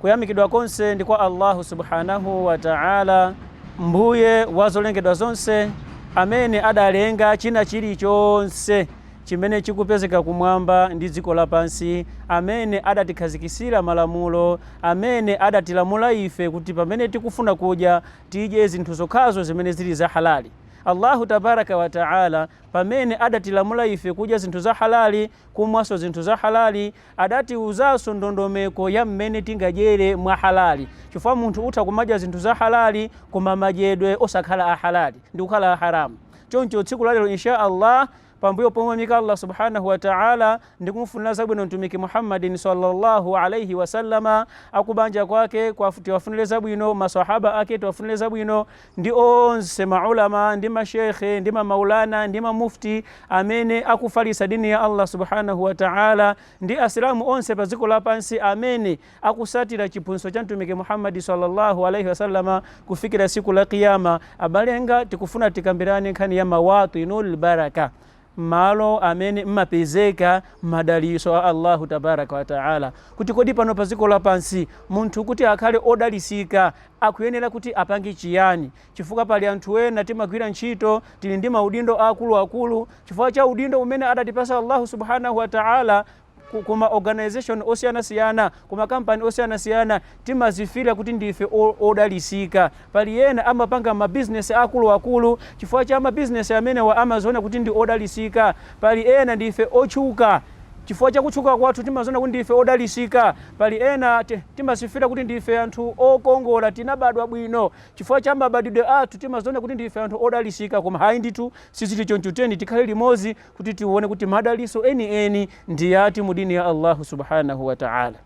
Kuyamikidwa konse ndi kwa Allahu Subhanahu wa Ta'ala Mbuye wa zolengedwa zonse amene adalenga china chilichonse chimene chikupezeka kumwamba ndi dziko lapansi, amene adatikhazikitsira malamulo, amene adatilamula ife kuti pamene tikufuna kudya tidye zinthu zokhazo zimene zili za halali. Allahu Tabaraka wa Ta'ala pamene adatilamula ife kudya zinthu za halali, kumwanso zinthu za halali, Adatiuzanso ndondomeko ya mmene tingadyere mwa halali chifukwa munthu utha kumadya zinthu za halali koma madyedwe osakhala a halali ndikukhala a haram. Choncho tsiku la lero insha Allah pambuyo pomuyamika Allah Subhanahu Wa Ta'ala ndi kumufunira zabwino Mtumiki Muhammadin salla Allah Alayhi Wasallam, akubanja kwake tiwafunire zabwino, ma swahaba ake tiwafunire zabwino, ndi onse ma ulama ndi ma sheikh ndi ma maulana ndi ma mufti amene akufalitsa dini ya Allah subhanahu wa ta'ala ndi asilamu onse pa dziko lapansi amene akusatira chiphunzitso cha mtumiki Muhammad sallallahu alaihi wasallama kufikira siku la kiyama abale anga tikufuna tikambirane nkhani ya mawatinul baraka, malo amene mmapezeka madalitso a Allahu tabaraka wa taala, kuti kodi pano pa dziko lapansi munthu kuti akhale odalitsika akuyenera kuti apange chiyani, chifukwa pali anthu ena timagwira ntchito tili ndi maudindo aakuluakulu, chifukwa cha udindo umene adatipatsa Allahu subhanahu wa taala ku, ku ma organization osiyanasiyana ku makampani osiyanasiyana timazimvera kuti ndife o- odalisika pali ena amapanga mabizinesi akuluakulu chifukwa cha mabizinesi amenewa amaziona kuti ndi odalisika pali ena ndife otchuka chifukwa cha kutchuka kwathu timaziona kuti ndife odalisika pali ena ti- timazimvera kuti ndife anthu okongola tinabadwa bwino chifukwa cha mabadidwe athu timaziona kuti ndife anthu odalisika koma hayi ndithu sizili choncho tiyeni tikhale limodzi kuti tione kuti madaliso eni eni ndi yati mu dini ya Allahu subhanahu wa ta'ala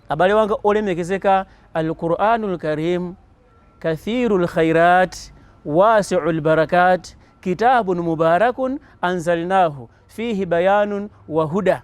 abale wanga olemekezeka al-Qur'anul Karim kathirul khairat wasi'ul barakat kitabun mubarakun anzalnahu fihi bayanun wa huda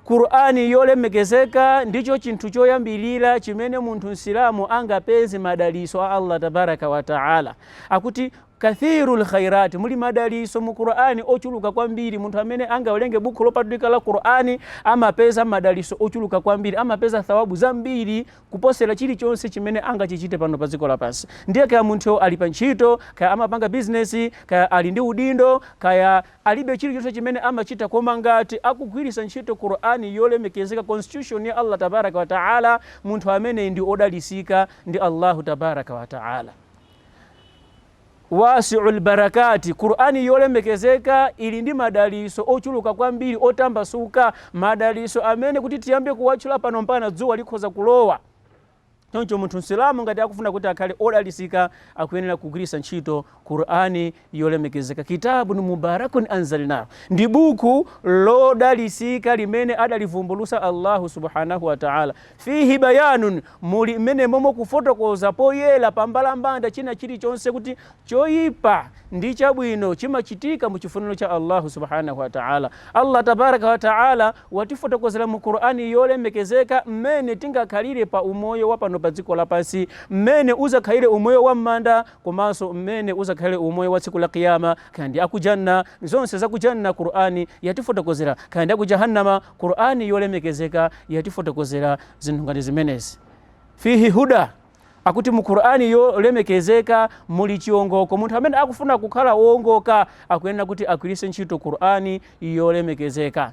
Qur'ani yolemekezeka ndicho chinthu choyambirira chimene munthu msilamu angapeze madaliso a Allah tabaraka wa ta'ala akuti Kathirul khairat, muli madalitso mu Qur'an ochuluka kwambiri. Munthu amene angawelenge bukhu lopatulika la Qur'an amapeza madalitso ochuluka kwambiri, amapeza thawabu zambiri kuposera chilichonse chimene angachichite pano pa dziko lapansi. Ndiye kaya munthuyo ali pa ntchito, kaya amapanga business, kaya ali ndi udindo, kaya alibe chilichonse chimene amachita koma ngati akugwiritsa ntchito Qur'an yolemekezeka, constitution ya Allah Tabaraka Wataala, munthu ameneyi ndi odalitsika ndi Allahu Tabaraka Wataala. Waasiul barakaati, Qur'an yolemekezeka ili ndi madalitso ochuluka kwambiri otambasuka, madalitso amene kuti tiyambe kuwatchula pano mpakana dzuwa likhoza kulowa. Choncho munthu Msilamu ngati akufuna kuti akhale odalitsika akuyenera kugwiritsa ntchito Qur'an yolemekezeka. Kitaabun mubaarakun anzalnaahu, ndi buku lodalitsika limene adalivumbulutsa Allahu Subhaanahu wa Ta'aala. Fiihi bayaanun, muli m'menemomu kufotokoza poyera pambalambanda china chilichonse kuti choyipa ndi chabwino chimachitika mu chifuniro cha Allahu Subhaanahu wa Ta'aala. Allah Tabaaraka wa Ta'aala watifotokozera mu Qur'an yolemekezeka m'mene tingakhalire pa umoyo wa pano pa dziko lapansi, m'mene udzakhalire umoyo wa m'manda, komanso mmene uzakhale umoyo wa tsiku la Qiyama, kaya ndi za ku Jannah, zonse za ku Jannah Qur'an yatifotokozera, kaya ndi a ku Jahannama, Qur'an yolemekezeka yatifotokozera zinthu ngati zimenezi. Fihi huda, akuti mu Qur'an yolemekezeka muli chiongoko, munthu amene akufuna kukhala oongoka akuyenera kuti agwiritse ntchito Qur'an yolemekezeka.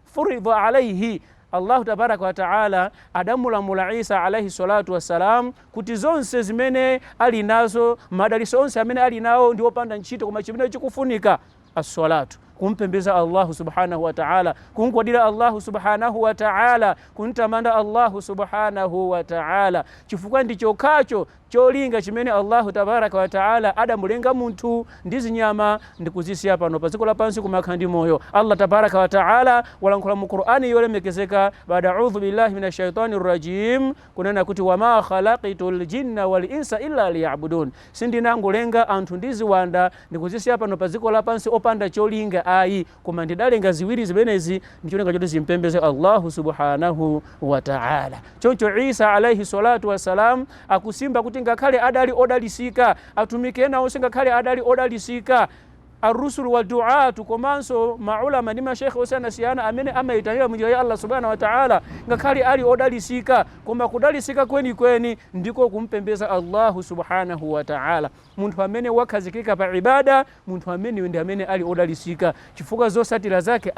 furidha alaihi, Allahu tabaaraka wa ta'âlâ adamulamula Isa alaih ssalatu wassalam kuti zonse zimene ali nazo, madalitso onse amene ali nawo ndi opanda ntchito koma chimene chikufunika as-salatu, kumpembeza Allahu subhanahu wa ta'âlâ, kumgwadira Allahu subhanahu wa ta'âlâ, kumtamanda Allahu subhanahu wa ta'âlâ, chifukwa ndi chokhacho Cholinga chimene Allahu tabaraka wa ta'âlâ adamulenga munthu ndi ziwanda ndi kuzisiya pano pa dziko lapansi kumakhala ndi moyo. Allah tabaraka wa ta'âlâ walankhula mu Qur'an yolemekezeka, Ba'da A'udhu billahi mina shaytani rrajeem, kunena kuti, Wa ma khalaqtul jinna wal insa illa liya'budun. Sindinangolenga anthu ndi ziwanda ndikuzisiya pano pa dziko lapansi opanda cholinga ayi, Koma ndidalenga ziwiri zimenezi ndi cholinga choti zimpembeze Allahu Subhaanahu wa Ta'ala. Choncho Isa alaih Salatu wassalam akusimba kuti ngakhale adali odalisika, Atumiki ena onse ngakhale adali odalisika, Ar-Rusul wa Du'aat komanso ma Ulama ndi ma Sheikh osiyanasiyana amene amaitanira munjira ya Allah Subhaanahu wa Ta'ala ngakhale ali odalisika, koma kudalisika kwenikweni ndiko kumpembeza Allahu Subhaanahu wa Ta'ala. Munthu amene wakhazikika pa Ibaadah, munthu ameneyo ndi amene ali odalitsika chifukwa zotsatira zake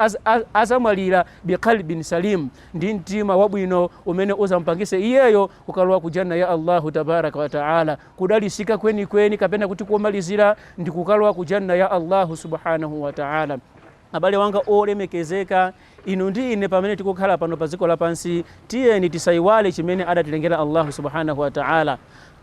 adzamwalira bi qalbin saliim, ndi mtima wabwino umene udzamupangitse iyeyo kukalowa ku Jannah ya Allahu tabaaraka wa ta'ala. Kudalitsika kwenikweni kapena kuti komalizira ndi kukalowa ku Jannah ya Allahu subhaanahu wa ta'ala. Abale wanga olemekezeka, inu ndi ine pamene tikukhala pano pa dziko lapansi, tiyeni tisaiwale chimene adatilengera Allahu subhanahu wa ta'ala.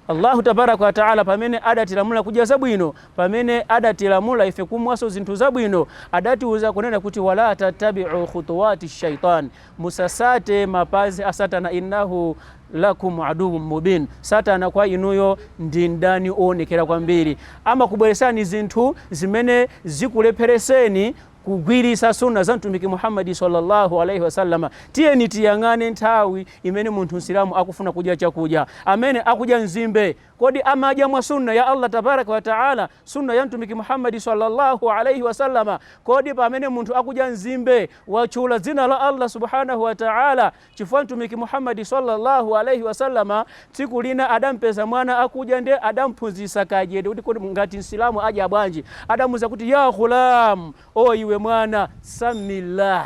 Allahu tabaraka wa ta'ala pamene adatilamula kudya zabwino, pamene adatilamula ife kumwanso zinthu zabwino, adatiuza kunena kuti wala tattabi'u khutuwati shaitan, Musasate mapazi a satana innahu lakum aduwwum mubin satana kwa inuyo ndi mdani owonekera kwambiri. Amakubweresani zinthu zimene zikulephereseni kugwiritsa sunnah za Mtumiki Muhammad salla Allah alaih wasallam. Tiyeni tiyang'ane nthawi imene munthu Msilamu akufuna kudya chakudya. Amene akudya nzimbe, kodi amadya mwa sunnah ya Allah tabaraka wa ta'ala? Sunnah ya Mtumiki Muhammad salla Allah alaih wasallam, Kodi pamene munthu akudya nzimbe watchula dzina la Allah Subhanahu wa Ta'ala? Chifukwa Mtumiki Muhammad salla Allah alaih wasallam tsiku lina adampeza mwana akudya nde adamphunzitsa kadyedwe kuti kodi ngati Msilamu adya bwanji? Adamuuza kuti, Ya Ghulaam, O iwe mwana, Sammillah.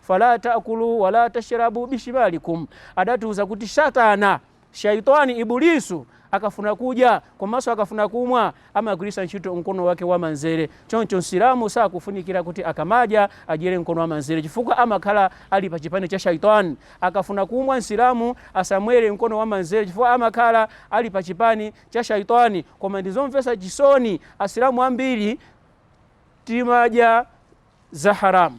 Fala ta'kulu wala tashrabu bishimalikum, adatiuza kuti Satana, Shaytwaan, Ibulisu akafuna kudya komanso akafuna kumwa amagwiritsa ntchito mkono wake wamanzere, choncho Msilamu sakufunikira kuti akamadya adyere mkono wamanzere chifukwa amakhala ali pa chipani cha Shaytwaan. Akafuna kumwa Msilamu asamwere mkono wamanzere chifukwa amakhala ali pa chipani cha Shaytwaan. Koma ndizomvetsa chisoni Asilamu ambiri timadya. za haramu.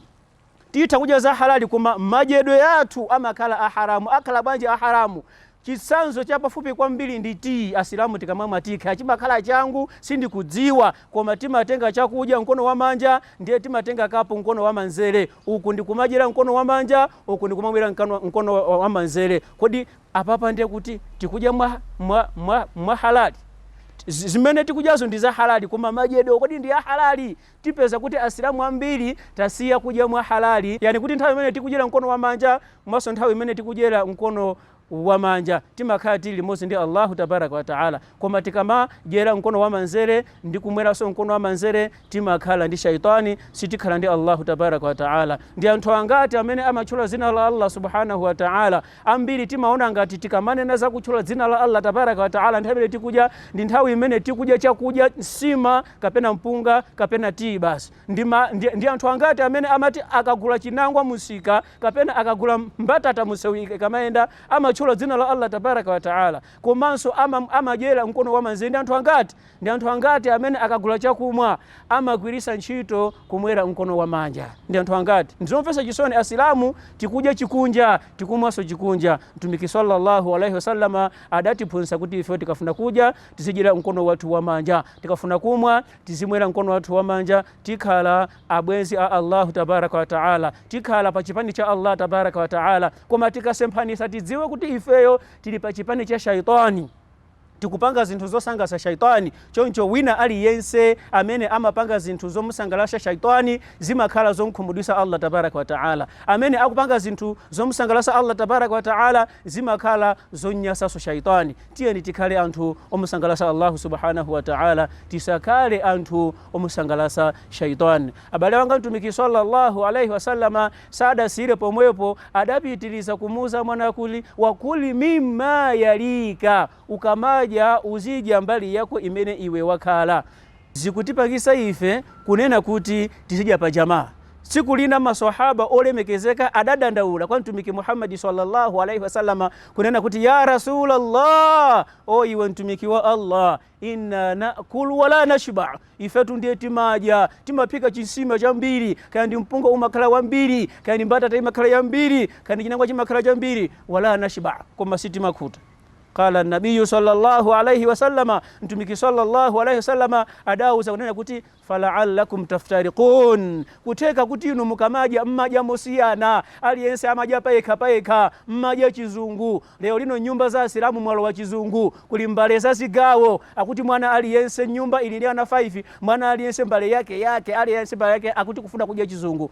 Titha kudya za halali koma madyedwe athu amakhala a haramu. Akhala bwanji a haramu? Chitsanzo chapafupi kwambiri ndi tiyi. Asilamu tikamamwa tiyi kaya chimakhala changu, sindikudziwa, koma timatenga chakudya mkono wamanja ndiye timatenga kapu mkono wamanzere, uku ndi kumadyera mkono wamanja, uku ndi kumamwera mkano- mkono wa- wa- wamanzere. Kodi apapa ndiye kuti tikudya mwa, mwa, mwa, mwa halali? Z- zimene tikudyazo ndi za halali koma madyedwe kodi ndi a halali tipeza kuti Asilamu ambiri tasiya kudya mwa halali, yani kuti nthawi imene tikudyera mkono wamanja komanso nthawi imene tikumwera mkono wamanja timakhala tili limodzi ndi Allahu tabaraka wa taala. Koma tikamadyera mkono wamanzere ndi kumweranso mkono wamanzere timakhala ndi shaitani, sitikhala ndi Allahu tabaraka wa taala. Ndi anthu angati amene amatchula dzina la Allah subhanahu wa taala? Ambiri timaona ngati tikamanena za kutchula dzina la Allah tabaraka wa taala nthawi imene tikudya ndi nthawi imene tikudya chakudya nsima kapena mpunga kapena tiyi basi ndi, ma, ndi, ndi anthu angati amene amati akagula chinangwa mumsika kapena akagula mbatata mumsewu akamayenda amatchula dzina la allah tabaraka wataala komanso ama, amadyera mkono wamanja ndi anthu angati ndi anthu angati amene akagula chakumwa amagwiritsa ntchito kumwera mkono wamanja ndi anthu angati ndizomvetsa chisoni asilamu tikudya chikunja tikumwanso chikunja mtumiki sallallahu alaihi wasallama adatiphunzitsa kuti ife tikafuna kudya tizidyera mkono wathu wamanja Tikafuna kumwa, tizimwera mkono wathu wamanja, tikhala abwenzi a Allahu tabaraka wa taala, tikhala pa chipani cha Allah tabaraka wa taala, koma tikasemphanitsa tidziwe kuti ifeyo tili pa chipani cha shaytwani, tikupanga zinthu zosangalatsa shaytwani, choncho wina aliyense amene amapanga zinthu zomusangalatsa shaytwani zimakhala zomkhumudwitsa Allah tabaraka wa taala, amene akupanga zinthu zomusangalatsa Allah tabaraka wa taala zimakhala zomnyasanso shaytwani. Tiyeni tikhale anthu omusangalatsa Allahu subhanahu wa ta'âlâ, tisakhale anthu omusangalatsa shaytwaan. Abale anga, Mtumiki swalla Allahu alaih wasallam sadasiyire pomwepo, adapitiriza kumuuza mwana kuti, Wa kul mimma yalika, ukamadya uzidya mbali yako imene iwe wakhala. Zikutipangisa ife kunena kuti tizidya pa Jamaa. Tsiku lina Maswahaaba olemekezeka adadandaula kwa Mtumiki Muhammad swalla Allahu alaih wasallam kunena kuti, Ya Rasul Allah! Oh iwe Mtumiki wa Allah! Inna naakul wala nashba. Ifetu ndiye timadya, timaphika chinsima chambiri, kaya ndi mpunga umakhala wambiri, kaya ndi mbatata imakhala yambiri, kaya ndi chinangwa chimakhala chambiri, wala nashba, koma sitimakhuta. Qala nabiyu sallallahu alaihi wasallama, Mtumiki sallallahu alaihi wasallama adauza kunena kuti falaallakum taftariqun, kutheka kuti inu mukamadya mmadya mosiyana, aliyense amadya payekha payekha, mmadya chizungu. Lero lino mnyumba za Asilamu mwalowa chizungu, kuli mbale za zigawo, akuti mwana aliyense mnyumba ili ndi ana 5, mwana aliyense mbale yake yake, aliyense mbale yake akuti kufuna kudya chizungu.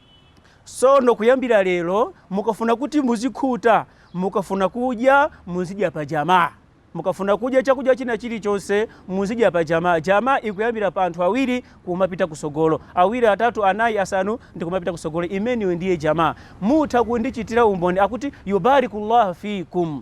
Sono kuyambira lero mukafuna kuti muzikhuta, mukafuna kudya muzidya pa jamaa. Mukafuna kudya chakudya china chilichonse muzidya pa jamaa. Jamaa ikuyambira pa anthu awiri kumapita kusogolo. Awiri, atatu, anayi, asanu ndi kumapita kusogolo imeneyo ndiye jamaa. Mutha kundichitira umboni akuti Yubaarikullahu fiikum.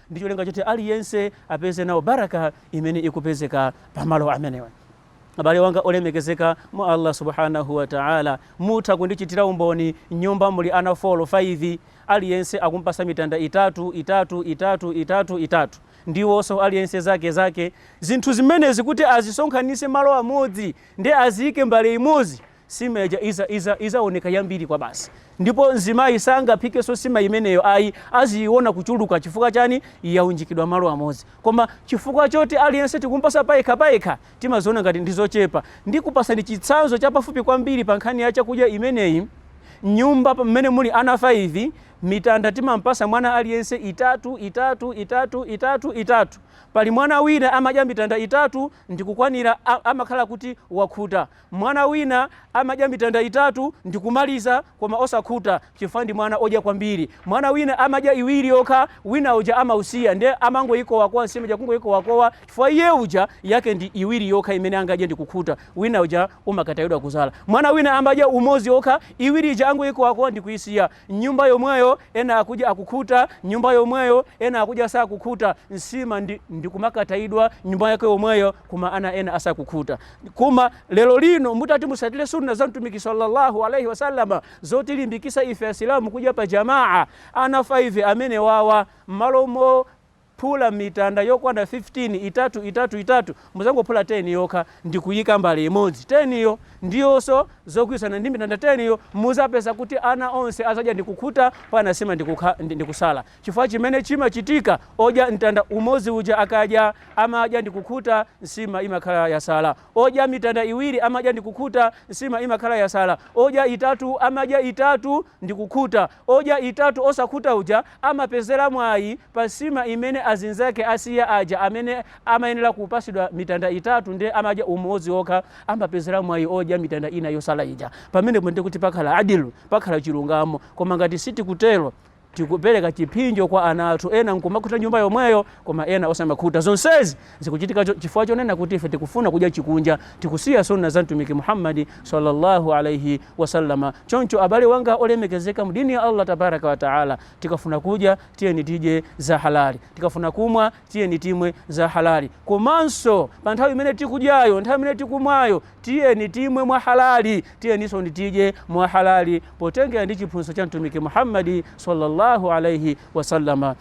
ndi cholinga choti aliyense apeze nawo baraka imene ikupezeka pamalo amenewa abale wanga olemekezeka mwa allah subhanahu wataala mutha kundichitira umboni mnyumba muli ana 4 5 aliyense akumpasa mitanda itatu itatu itatu itatu itatu ndiwonso aliyense zake zake zinthu zimenezi kuti azisonkhanise malo amodzi ndi aziyike mbale imodzi sima ija izaoneka yambiri kwabasi ndipo mzimayi sangaphikenso sima imeneyo ayi aziyiona kuchuluka chifukwa chani yaunjikidwa malo amodzi koma chifukwa choti aliyense tikumpasa payekha payekha timaziona ngati ndi zochepa ndikupasani chitsanzo chapafupi kwambiri pa nkhani ya chakudya imeneyi mnyumba mmene muli ana 5 mitanda timampasa mwana aliyense itatu itatu itatu itatu itatu pali mwana wina amadya mitanda itatu ndikukwanira a- amakhala kuti wakhuta Mwana wina amadya mitanda itatu ndi kumaliza koma osakhuta chifukwa ndi mwana odya kwambiri. Mwana wina amadya iwiri yokha wina uja amausiya nde amangoyikowakowa nsima ija kungoyikowakowa chifukwa iye uja yake ndi iwiri yokha imene angadye ndikukhuta wina uja umakatayidwa kuzala. Mwana wina amadya umodzi okha iwiri ija angoyikowakowa ndikuyisiya. M'nyumba yomweyo, ena akudya akukhuta, m'nyumba yomweyo, ena akudya asakukhuta, nsima ndi kumakatayidwa m'nyumba yake yomweyo, koma ana ena asakukhuta. Koma lero lino mutati musatire sunna za Mtumiki sallallahu alaihi wasallam zotilimbikisa ife Asilamu kudya pa jamaa, ana 5 amenewawa, m'malo mo. Phula mitanda yokwana 15, itatu, itatu, itatu, mudzangophula 10 yokha ndi kuyika mbale imodzi. 10 yo ndiwonso zokwanirana ndi mitanda 10 yo, mudzapeza kuti ana onse adzadya ndi kukhuta pena nsima ndi kutsala. Chifukwa chimene chimachitika, odya mtanda umodzi uja akadya, amadya ndi kukhuta, nsima imakhala yatsala. Odya mitanda iwiri amadya ndi kukhuta, nsima imakhala yatsala. Odya itatu amadya itatu. ndikukhuta. Odya itatu osakhuta uja amapezera mwayi pa nsima imene azinzake asiya aja amene amayenera kupasidwa mitanda itatu nde amadya umodzi okha amapezera mwayi odya mitanda ina yotsala ija. Pamenepo nde kuti pakhala adl, pakhala chilungamo. Koma ngati sitikutero tikupereka chiphinjo kwa ana athu ena nkumakhuta nyumba yomweyo koma ena osamakhuta. Zonsezi. Zikuchitika chifukwa chonena kuti ife tikufuna kudya chikunja, tikusiya Sunnah za Mtumiki Muhammad salla Allah alaih wasallam. Choncho abale wanga olemekezeka mu deen ya Allah tabaraka wa ta'ala, tikafuna kudya tiyeni tidye za halal, tikafuna kumwa tiyeni timwe za halal, komanso pa nthawi imene tikudyayo, nthawi imene tikumwayo tiyeni timwe mwa halal, tiyeninso tidye mwa halal potengera ndi chiphunzitso cha Mtumiki Muhammad salla Allah alaih wasallam.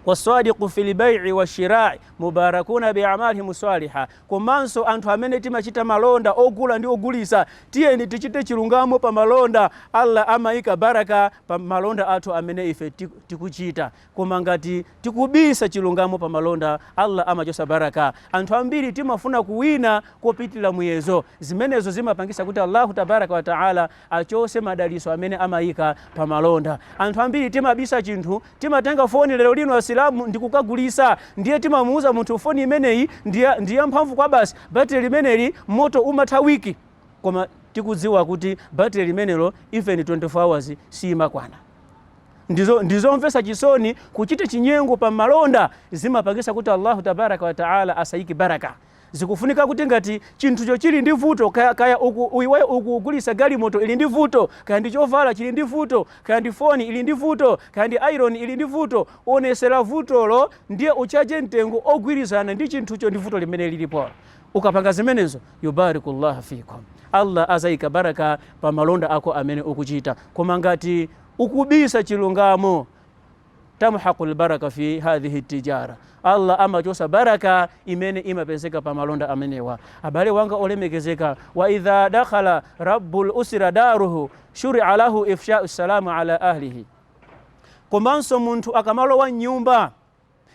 Wasadiqu fil bai'i wa shira'i mubarakuna bi a'malihim swaliha, Komanso anthu amene timachita malonda, ogula ndi ogulitsa, tiyeni tichite chilungamo pa malonda, Allah amaika baraka pa malonda athu amene ife tikuchita, koma ngati tikubisa chilungamo pa malonda, Allah amachotsa baraka. Anthu ambiri timafuna kuwina kopitilira muyezo, zimenezo zimapangitsa kuti Allahu tabaraka wata'ala. achose madaliso amene amaika pa malonda anthu ambiri timabisa chinthu timatenga foni lero lino asilamu ndikukagulitsa ndiye timamuuza munthu foni imeneyi ndi ya mphamvu kwabasi battery limeneli moto umatha week koma tikudziwa kuti battery limenelo even 24 hours siimakwana ndizomvetsa chisoni kuchita chinyengo pa malonda zimapangitsa kuti Allahu tabaraka wa taala asaike baraka Zikufunika kuti ngati chinthucho chili ndi vuto, kaya iwe ukugulitsa galimoto ili ndi vuto, kaya ndi chovala chili ndi vuto, kaya ndi foni ili ndi vuto, kaya ndi ayironi ili ndi vuto, uonetsere vutolo ndiye utchaje mtengo ogwirizana ndi chinthucho ndi vuto limene lilipo. Ukapanga zimenezo, yubarikullah fikum. Allah azaika barakah pa malonda ako amene ukuchita. Koma ngati ukubisa chilungamo, tamhaqu lbaraka fi hadhihi tijara allah amachotsa baraka imene imapezeka pa malonda amenewa abale wanga olemekezeka wa idha dakhala rabbu lusira daruhu shuria lahu ifshau salamu ala ahlihi komanso munthu akamalowa m'nyumba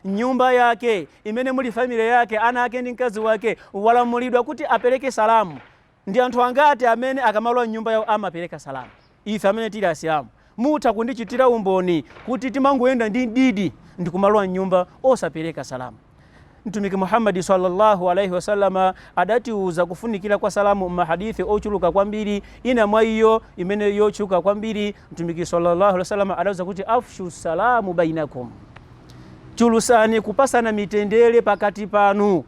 m'nyumba yake imene muli family yake ana ake ndi mkazi wake walamulidwa kuti apereke salamu Ndi anthu angati amene akamalowa mnyumba yawo amapereka salaam? Ife amene tili Asilamu mutha kundichitira umboni kuti timangoyenda ndi mdidi ndikumalowa mnyumba osapereka salaam. Mtumiki Muhammad swalla Allahu alaih wasallam adatiuza kufunikira kwa salaam mma hadith ochuluka kwambiri, ina mwa iyo imene yotchuka kwambiri, Mtumiki swalla Allahu alaih wasallam adatiuza kuti, Afshu salaam bainakum, Chulusani kupasana mitendere pakati panu.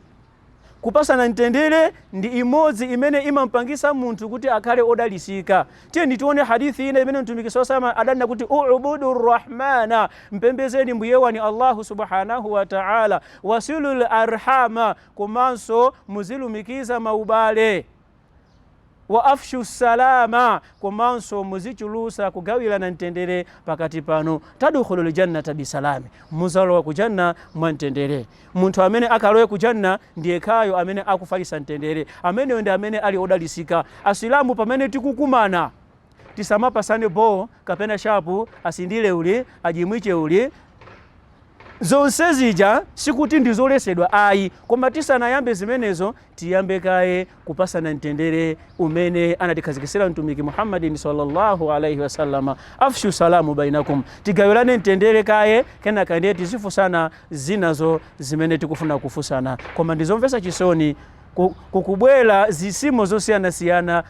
Kupasana mtendere ndi imodzi imene imampangisa munthu kuti akhale odalisika. Tiyeni tione hadith ina imene Mtumiki sallallahu alaihi wasallam adanena kuti u'budu Rahmana, mpembezeni Mbuye wanu Allahu subhanahu wa ta'ala, wasilul arhama, komanso muzilumikiza maubale. Wa afshu ssalaama komanso muzichulutsa kugawirana mtendere pakati panu. Tadkhulul Jannata bi salaami mudzalowa ku Jannah mwa mtendere. Munthu amene akalowe ku Jannah ndi yekhayo amene akufalitsa mtendere. Ameneyo ndi amene ali odalitsika. Asilamu pamene tikukumana tisamapatsane bho kapena shapu, asindile uli, ajimwiche uli. Zonse zija sikuti ndizolesedwa ayi koma tisanayambe zimenezo tiyambe kaye kupasana mtendere umene anatikhazikisira mtumiki Muhammadin sallallahu alaihi wasallam afshu salamu bainakum tigawirane mtendere kaye kenaka ndiye tizifusana zinazo zimene tikufuna kufusana koma ndizomvesa chisoni kukubwera zisimo zosiyanasiyana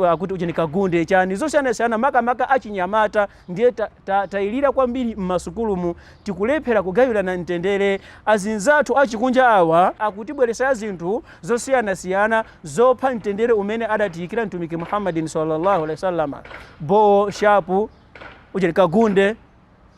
akuti ujeni kagunde chani zosiyanasiyana makamaka achinyamata Ndiye tatailira kwambiri m'masukulumu tikulephera kugawirana mtendere. Azinzathu achikunja awa akutibweretsera zinthu zosiyanasiyana zopha mtendere umene adatiikira Mtumiki Muhammadin sallallâhu alaihi wa sallam, bho, shapu, ujeni, kagunde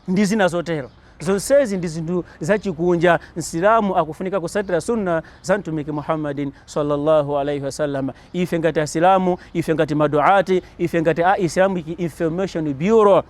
ndi zina zotero. Zonsezi ndi zinthu zachikunja. Msilamu akufunika kusatira Sunnah za Mtumiki Muhammadin salla Allah alaih wasallam. Ife ngati Asilamu, ife ngati maduat, ife ngati a Islamic Information Bureau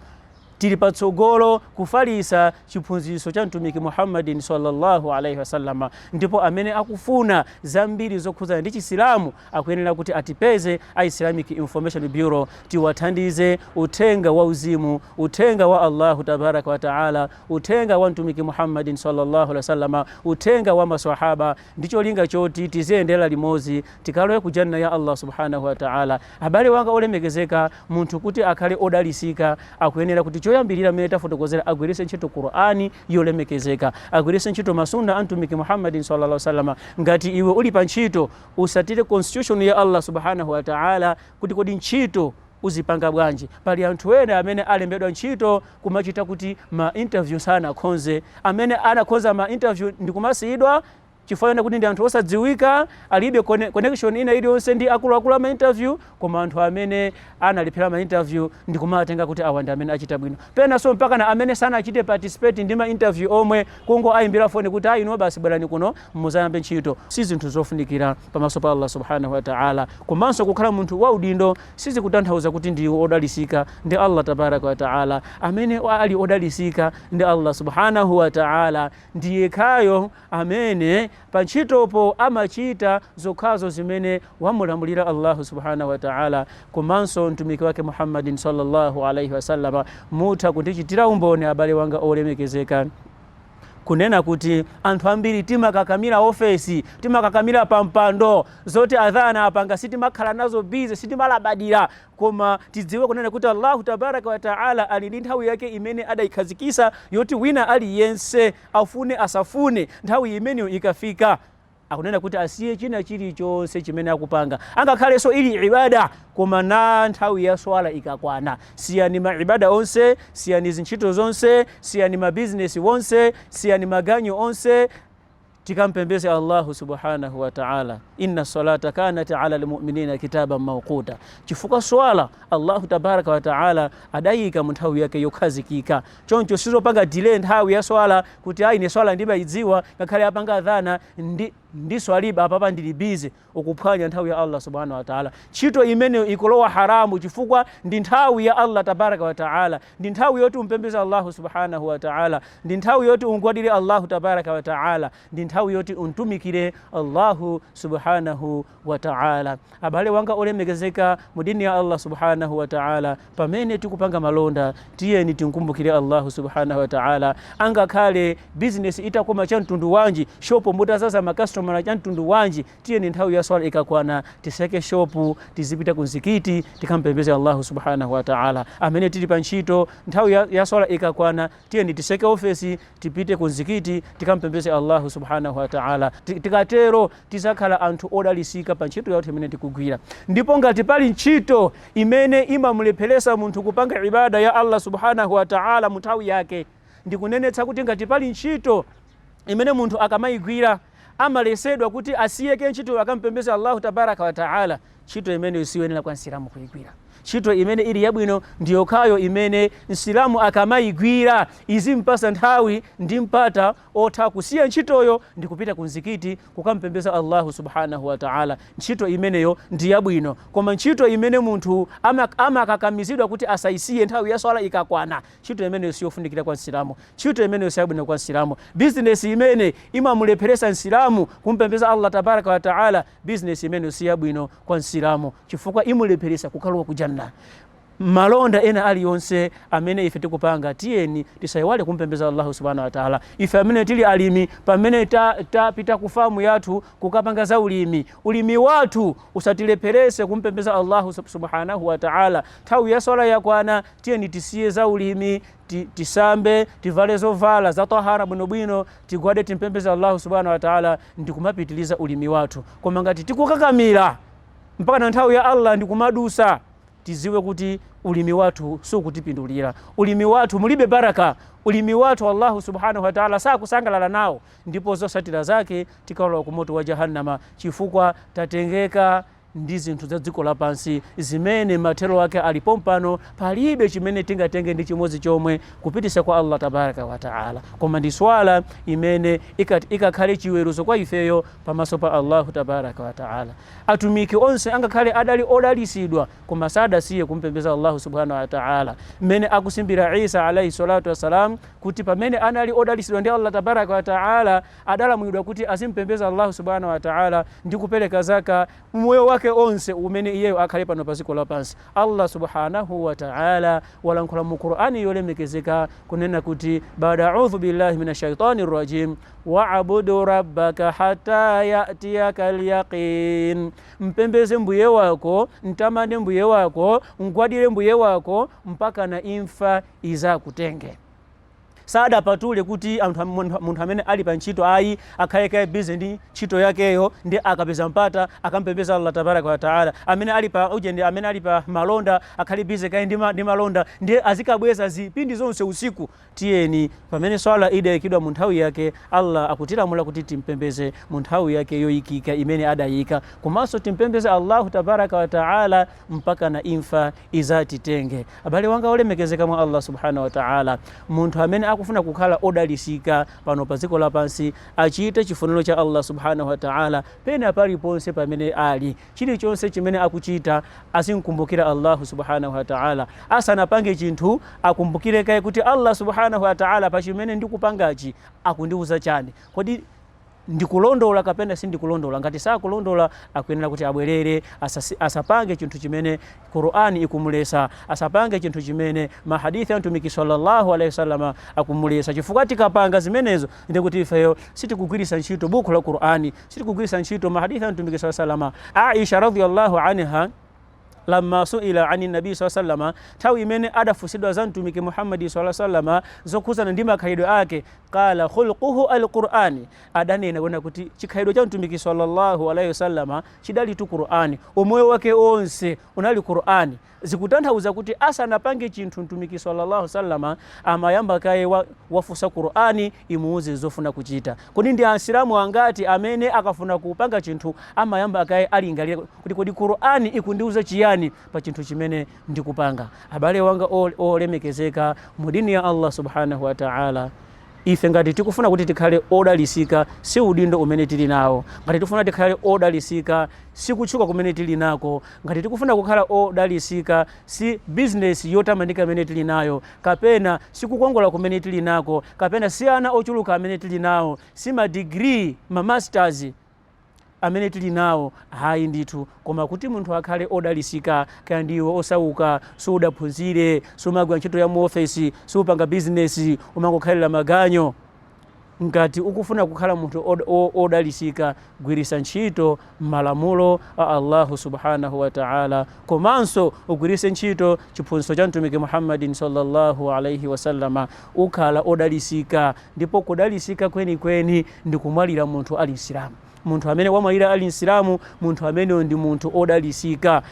tili patsogolo kufalisa chiphunziso cha Mtumiki Muhammadin salla Allah alaih wasallam. Ndipo amene akufuna zambiri zokhuzana ndi Chisilamu Akuyenera kuti atipeze a Islamic Information Bureau tiwathandize uthenga wa uzimu, uthenga wa Allahu tabaraka wa taala, uthenga wa Mtumiki Muhammadin sallallahu alaihi wasallam, uthenga wa maswahaba ndi cholinga choti tiziyendera limodzi tikalowe ku Jannah ya Allah subhanahu wa taala. Abale wanga olemekezeka, munthu kuti akhale odalisika akuyenera kuti choyambirira mmene tafotokozera agwiritse ntchito Qur'an yolemekezeka, agwiritse ntchito ma Sunnah a Mtumiki Muhammadin sallallahu alaihi wasallam. Ngati iwe uli pa ntchito usatire constitution ya Allah subhanahu wa ta'ala kuti kodi ntchito uzipanga bwanji pali anthu ena amene alembedwa ntchito kumachita kuti ma interview sanakhonze amene anakhonza ma interview ndikumasiyidwa chifukwa kuti ndi anthu osadziwika alibe connection ina iliyonse ndi akuluakulu a ma interview Koma anthu amene analephera ma interview ndikumawatenga kuti awa ndi amene achita bwino. Penanso mpakana amene sanachite participate ndi ma interview omwe, kungoaimbira foni kuti ah inuyo basi bwerani kuno muzayambe ntchito, si zinthu zofunikira pamaso pa Allah Subhaanah wa Ta'ala. Komanso kukhala munthu wa udindo sizikutanthauza kuti ndiwe odalisika ndi Allah Tabaaraka wa Ta'ala. Amene ali odalisika ndi Allah Subhaanah wa Ta'ala ndiyekhayo amene pantchitopo amachita zokhazo zimene wamulamulira Allahu subhanahu wa ta'ala komanso Mtumiki wake Muhammad sallallahu alaihi wasallam. Mutha kundichitira umboni abale wanga olemekezeka kunena kuti anthu ambiri timakakamira ofesi timakakamira pampando zoti adhana apanga sitimakhala nazo busy sitimalabadira koma tidziwe kunena kuti allahu tabaraka wataala ali ndi nthawi yake imene adayikhazikisa yoti wina aliyense Afune asafune,, nthawi imeneyo ikafika, akunena kuti asiye china chilichonse chimene akupanga, angakhalenso ili ibadah. Koma nthawi ya swala ikakwana, siyani ma ibadah onse, siyani zintchito zonse, siyani ma business wonse, siyani maganyu onse, tikampembeze Allahu subhanahu wa ta'ala. Inna salata kanat ala almu'minina kitaban mawquta. Chifukwa swala Allahu tabaraka wa ta'ala adayika mu nthawi yake yokhazikika. Choncho sizopanga delay nthawi ya swala kuti ayi ine swala ndimaidziwa ngakhale apanga adhana ndi ndiswalibe, apapa ndili busy ukuphwanya nthawi ya Allah subhanahu wa ta'ala ntchito imeneyo ikulowa haramu chifukwa ndi nthawi ya Allah tabaraka wa ta'ala ndi nthawi yoti umpembeze Allah subhanahu wa ta'ala ndi nthawi yoti ungwadire Allah tabaraka wa ta'ala ndi nthawi yoti untumikire Allah subhanahu wa ta'ala. Abale wanga olemekezeka mu dini ya Allah subhanahu wa ta'ala, pamene tikupanga malonda tiyeni tinkumbukire Allah subhanahu wa ta'ala. Angakhale business itakoma cha mtundu wanji, shopu mutazaza makastomala cha mtundu wanji, tiyeni nthawi ya swala ikakwana tiseke shopu tizipita kunzikiti tikampembeze Allah subhanahu wa ta'ala. Amene tili pa ntchito nthawi ya, ya swala ikakwana Tiyeni tiseke ofesi tipite ku mzikiti tikamupembeze Allahu subhanahu wa ta'ala. Tikatero tizakhala anthu odalisika pa ntchito yathu imene tikugwira. Ndipo ngati pali ntchito imene imamulepheresa munthu kupanga ibada ya Allah subhanahu wa ta'ala mu nthawi yake, ndikunenetsa kuti ngati pali ntchito imene munthu akamaigwira, amaletsedwa kuti asiyeko ntchitoyo akampembeze Allahu tabaraka wa taala, ntchito imeneyo siyoyenera kwa Msilamu kuigwira. Ntchito imene ili yabwino ndi yokhayo imene Msilamu akamaigwira izimpasa nthawi ndi mpata otha kusiya ntchitoyo ndi kupita ku mzikiti kukampembeza Allahu subhanahu wa taala. Ntchito imeneyo ndi yabwino, koma ntchito imene munthu ama- amakakamizidwa kuti asaisiye nthawi ya swala ikakwana Ntchito imeneyo siyofunikira kwa Msilamu. Ntchito imeneyo siyabwino kwa Msilamu. Bizinesi imene imamulepheretsa Msilamu kumupembeza Allah Tabaraka wa Ta'ala, bizinesi imeneyo siyabwino kwa Msilamu chifukwa imulepheretsa kukalowa ku Jannah. Malonda ena alionse amene ife tikupanga, tiyeni tisaiwale kumupembeza Allahu subhanahu wa ta'ala. Ife amene tili alimi, pamene tapita ta ku famu yathu kukapanga za ulimi, ulimi wathu usatilepheretse kumupembeza Allahu subhanahu wa ta'ala. Nthawi ya swala yakwana, Tiyeni tisiye za ulimi, ti, tisambe, tivale zovala za tahara bwinobwino, tigwade timpembeze Allahu subhanahu wa ta'ala ndikumapitiliza ulimi wathu. Koma ngati tikukakamira mpaka na nthawi ya Allah ndikumadusa, tiziwe kuti ulimi wathu sukutipindulira. Ulimi wathu mulibe baraka. Ulimi wathu Allahu subhanahu wa ta'ala sakusangalala nawo ndipo zosatira zake tikalowa ku moto wa jahannama chifukwa tatengeka ndi zinthu za dziko lapansi, zimene mathero ake ali pompano, palibe chimene tingatenge ndi chimodzi chomwe kupitisa kwa Allah Tabaraka wa Ta'ala, koma ndi swala imene ikat ikakhale chiweruzo kwa ifeyo pamaso pa Allahu Tabaraka wa Ta'ala. Atumiki onse angakhale adali odalisidwa, koma sadasiye kumupembeza Allahu Subhanahu wa Ta'ala, mmene akusimbira Isa alaihi Salatu wasalaam kuti pamene anali odalisidwa ndi Allah Tabaraka wa Ta'ala, adalamulidwa kuti azimupembeza Allahu Subhanahu Wataala ndi kupereka Zaka mu moyo wake onse umene iyeyo akhale pano pa dziko lapansi. Allah Subhanahu Wataala walankhula mu Qur'an yolemekezeka kunena kuti Ba'da A'udhu Billahi Mina Shaytani Rajim Wa'bud Rabbaka Hatta Ya'tiyakal Yaqin Mpembeze Mbuye wako, mtamande Mbuye wako, mgwadire Mbuye wako mpakana imfa izakutenge. Sadapatule kuti anthu munthu amene ali pa ntchito ayi, akhale kaye busy ndi ntchito yakeyo ndiye akapeza mpata akampembeze Allah Tabaaraka waa Ta'ala. Amene ali pa ujeni, amene ali pa malonda akhale busy kaye ndi malonda ndiye azikabweza zipindi zonse usiku. Tiyeni pamene Swala idaikidwa mu nthawi yake, Allah akutilamula kuti timpembeze mu nthawi yake yoikika imene adaika, komanso timpembeze Allahu Tabaaraka waa Ta'ala. mpakana imfa izatitenge. Abale wanga olemekezeka mwa Allah subhanahu wa ta'ala, munthu amene akufuna kukhala odalisika pano pa dziko lapansi achite chifuniro cha Allah subhanahu wa ta'ala pena paliponse pamene ali. Chilichonse chimene akuchita azimkumbukira Allah subhanahu wa ta'ala. Asanapange chinthu akumbukire kaye kuti Allah subhanahu wa ta'ala pa chimene ndikupangachi akundiuza chani? Kodi ndikulondola kapena sindikulondola, ngati sakulondola akuyenera kuti abwelere, asapange chinthu chimene Qur'an ikumulesa, asapange chinthu chimene ma hadith a Mtumiki salla Allah alaih wasallam akumulesa, chifukwa tikapanga zimenezo ndiye kuti ifeyo sitikugwiritsa ntchito bukhu la Qur'an, sitikugwiritsa ntchito ma hadith a Mtumiki salla Allah, Aisha radhia Allah anha. lamma suila ani Nabi saw sallama, nthawi imene adafunsidwa za Mtumiki Muhammad saw sallama zokhudzana ndi makhalidwe ake, qala khulquhu al Qur'an, adanena kunena kuti chikhalidwe cha Mtumiki sallallahu alaihi wasallama chidalitu Qur'an, umoyo wake onse unali Qur'an, zikutanthauza kuti asanapange chinthu Mtumiki sallallahu alaihi wasallama amayamba kaye wafunsa Qur'an imuuze zofuna kuchita. Kodi ndi Asilamu angati amene akafuna kupanga chinthu amayamba kaye alingalira kuti kodi Qur'an ikundiuza chiyani pa chinthu chimene ndikupanga. Abale wanga olemekezeka mu deen ya Allah Subhana huwa Ta'ala, ife ngati tikufuna kuti tikhale odalisika si udindo umene tili nawo, ngati tikufuna tikhale odalisika si kutchuka kumene tili nako, ngati tikufuna kukhala odalisika si business yotamandika imene tili nayo, kapena si kukongola kumene tili nako, kapena si ana ochuluka amene tili nawo, si ma degree, ma masters. amene tili nawo? Ayi ndithu, koma kuti munthu akhale odalisika. Kaya ndiwe osauka, sudaphunzire, sumagwira ntchito ya mu ofesi, supanga business, umangokhalira maganyu. Ngati ukufuna kukhala munthu odalisika, gwiritsa ntchito malamulo a Allahu subhanahu wa ta'âlâ komanso ugwiritse ntchito chiphunzitso cha Mtumiki Muhammadin sallallâhu alaihi wa sallam. Ukhala odalisika ndipo kudalisika kweni kweni ndikumwalira munthu ali Msilamu. Munthu amene wamwalira ali Msilamu munthu ameneyo ndi munthu odalisika.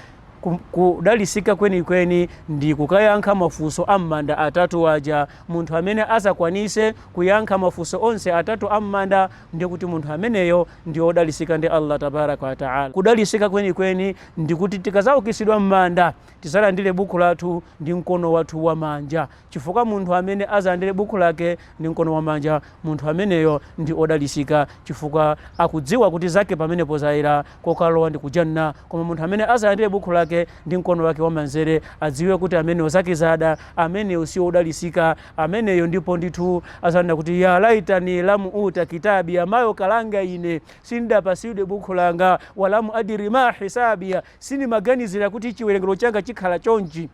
Kudalisika kweni kweni ndi kukayankha mafunso a m'manda atatu aja. Munthu amene azakwanise kuyankha mafunso onse atatu a m'manda ndiye kuti munthu ameneyo ndi odalisika ndi Allah Tabaaraka wa Ta'ala. Kudalisika kweni kweni ndikuti tikazaukitsidwa m'manda tizalandire buku lathu ndi mkono wathu wa manja. chifukwa munthu amene azalandire bukhu lake ndi mkono wamanja, munthu ameneyo ndi odalisika chifukwa akudziwa kuti zake pamenepo zayera kokalowa ndi ku jannah, koma munthu amene azalandire bukhu lake ndi mkono wake wamanzere adziwe kuti ameneyo zake zada, ameneyo siodalisika ameneyo ndipo ndithu azanena kuti ya laitani lam uta kitabiya mayo kalanga ine sindidapasidwe bukhu langa wa lam adiri ma hisabiya sindimaganizira kuti chiwerengero changa chikhala chonchi.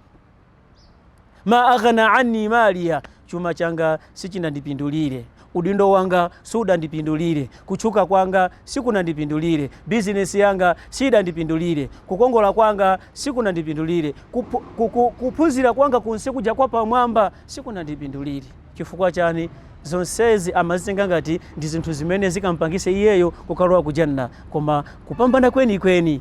ma aghna anni maliyah chuma changa sichinandipindulire udindo wanga sudandipindulire kutchuka kwanga sikunandipindulire bizinesi yanga sidandipindulire kukongola kwanga sikunandipindulire kupu, kuku, kuphunzira kwanga kunse kuja kwa pamwamba sikunandipindulire chifukwa chani zonsezi amazitenga ngati ndi zinthu zimene zikampangise iyeyo kukalowa ku janna koma kupambana kwenikweni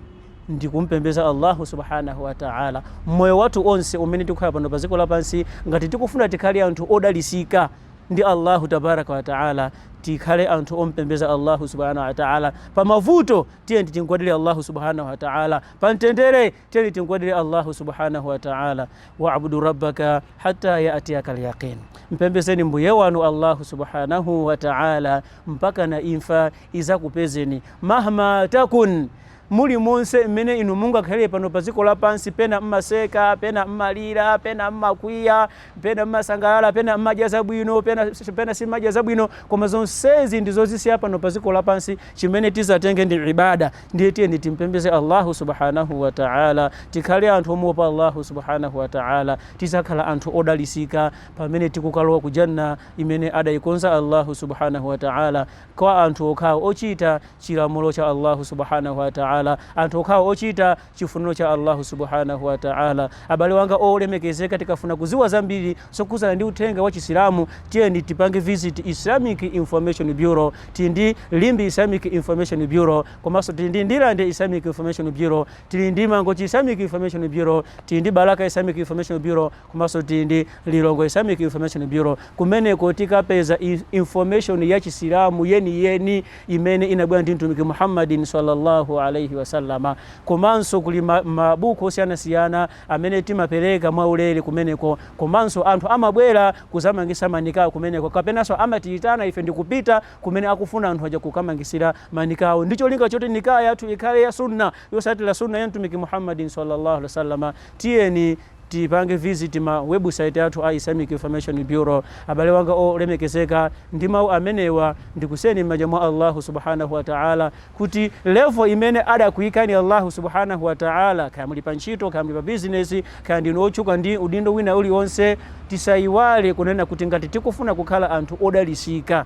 ndikumpembeza Allahu subhanahu wa ta'ala mmoyo wathu onse umene tikukhala pano pa dziko lapansi ngati tikufuna tikhale anthu odalisika ndi Allahu tabaraka wa ta'ala tikhale anthu ompembeza Allahu subhanahu wa ta'ala pa mavuto tiyeni tingwadire Allahu subhanahu wa ta'ala pa mtendere tiyeni tingwadire Allahu subhanahu wa ta'ala wa'budu rabbaka hatta ya'tiyaka al-yaqin mpembezeni mbuye wanu Allahu subhanahu wa ta'ala mpaka na imfa izakupezeni mahma takun Mulimonse mmene inu mungakhalire pano pa dziko lapansi, pena mmaseka, pena mmalira, pena mmakwiya, pena mmasangalala, pena mmadya zabwino, pena simmadya zabwino, koma zonsezi ndi zozisiya pano pa dziko lapansi, chimene tidzatenge ndi ibadah, ndiye tiyeni timpembeze Allahu subhanahu wa ta'âlâ, tikhale anthu omuopa Allahu subhanahu wa ta'âlâ, tidzakhala anthu odalitsika pamene tikukalowa ku Jannah imene adaikonza Allahu subhanahu wa ta'âlâ. kwa anthu okhawo ochita chilamulo cha Allahu subhanahu wa ta'ala, anthu okhawo ochita chifuniro cha Allahu subhanahu wa ta'ala. Abale wanga olemekezeka, tikafuna kuziwa zambiri zokhudzana ndi uthenga wa Chisilamu, tiyeni tipange visit Islamic Information Bureau. Tili ndi Limbe Islamic Information Bureau, komanso tili ndi Ndirande Islamic Information Bureau, tili ndi Mangochi Islamic Information Bureau, tili ndi Balaka Islamic Information Bureau, Komanso tili ndi Lilongwe Islamic Information Bureau, kumeneko tikapeza information ya Chisilamu yeni yeni imene inabwera ndi Mtumiki Muhammadin, Sallallahu Alayhi Wasallam. Komanso kuli mabuku osiyana siyana amene timapereka mwa ulere kumeneko, komanso anthu amabwera kuzamangisa ma nikah kumeneko, kapenanso amatiyitana ife ndikupita kumene akufuna anthu aja kukamangisira ma nikah awo ndi cholinga choti nikah yathu ikhale ya Sunnah, yotsatira Sunnah ya Mtumiki Muhammadin, Sallallahu Alayhi Wasallam. Tiyeni. Tipange visit ma website athu a Islamic Information Bureau. Abale wanga olemekezeka, ndi mau amenewa ndikusiyeni m'manja mwa Allahu subhanahu wa ta'ala kuti level imene adakuikani Allahu subhanahu wa ta'ala, kaya muli pa ntchito, kaya muli pa business, kaya ndinu otchuka ndi udindo wina ulionse, tisaiwale kunena kuti ngati tikufuna kukhala anthu odalisika,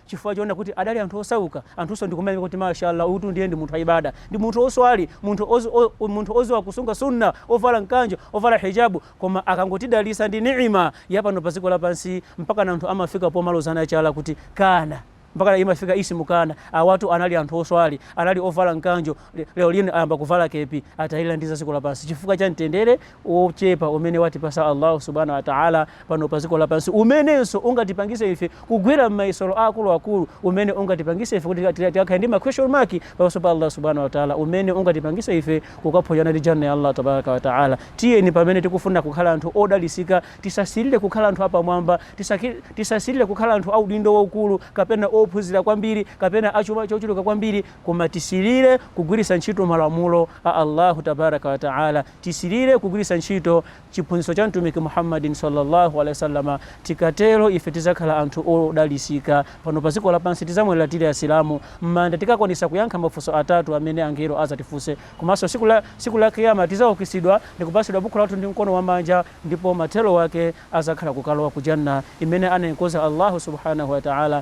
chifukwa choona kuti adali anthu osauka, anthunso ndikumayamika kuti Masha Allah uyutu ndiye ndi munthu wa ibaada, ndi munthu oswali, munthu oz o o munthu oziwa kusunga sunnah, ovala nkanjo, ovala hijabu, koma akangotidalisa ndi ni'ima ya pano pa dziko lapansi mpakana anthu amafika pomalozana chala kuti kaana, mpakana imafika ismu kaana, awatu anali anthu oswali, anali ovala nkanjo, Lero lino ayamba kuvala kepi atailandiza dziko lapansi chifukwa cha mtendere wochepa umene watipasa Allahu subhana wataala pano pa dziko lapansi, umenenso ungatipangise ife kugwera m'mayesero aakulu akulu, umene ungatipangise ife kuti tikakhale ndi ma question mark pamaso pa Allah subhana wataala, umene ungatipangise ife kukaphonyana ndi Janna ya Allah tabaraka wataala. Tiyeni pamene tikufuna kukhala anthu odalisika tisasilire kukhala anthu apamwamba, tisasilire kukhala anthu audindo waukulu, kapena ophunzira kwambiri, kapena achuma chochuluka kwambiri, Koma tisilire kugwiritsa ntchito malamulo a Allahu tabaraka wa taala. Tisilire kugwiritsa ntchito chiphunzitso cha Mtumiki Muhammadin sallallâhu alaihi wa sallam. Tikatero ife tidzakhala anthu odalitsika pano pa dziko lapansi. Tidzamwalira tili Asilamu. M'manda tikakwanitsa kuyankha mafunso atatu amene angelo adzatifunse. Komanso tsiku la Kiyama tidzaukitsidwa ndikupatsidwa bukhu lathu ndi mkono wa manja ndipo mathero ake adzakhala kukalowa ku Jannah imene anaikonza Allahu subhânahu wa ta'âlâ